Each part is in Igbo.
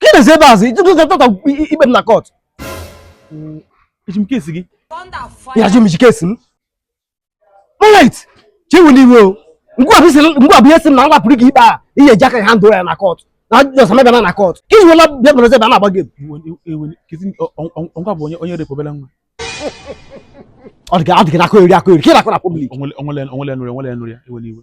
Ka ị na-esi ebe azụ ijikọ ka tọta ikpe m na court. Eji m case gị. Ya jụ m i ji case m. Alright, ka ewena iwe o. Ngwa bụ ihe si m na ngwa pụrụ gị ikpe a ihe eji aka handle ya na court. Na just mebe na na court. Ka iji wela bịa bụrụ ebe a na-agba gị. Ngwa bụ onye repụ obere nwa. Ọ dị ka ị na-akọeri akọeri, ka ị na-akọ na public. Onwele nụrụ ya, onwele nụrụ ya, ewena iwe.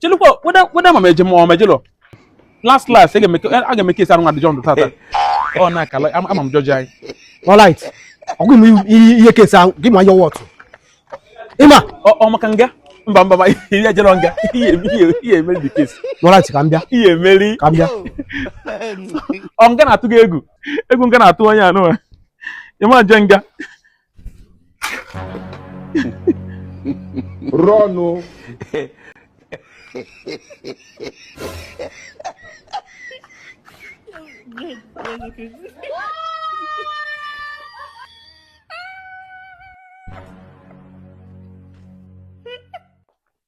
chelukwa whether ma m eje ma m ejelo last last a ga-eme case arụ nwa adjourned tata ọ na-akala ama m judge anyị alright ọgụ m ihe case ahụ give me your word ịma ọ maka nga mba mba mba ị ya-ejerọ nga ị ya-emeri the case alright ka m bịa ị ya-emeri ka m bịa ọ nga na-atụ gị egwu egwu nga na-atụ onye anụwa ị ma-eje nga rọnụ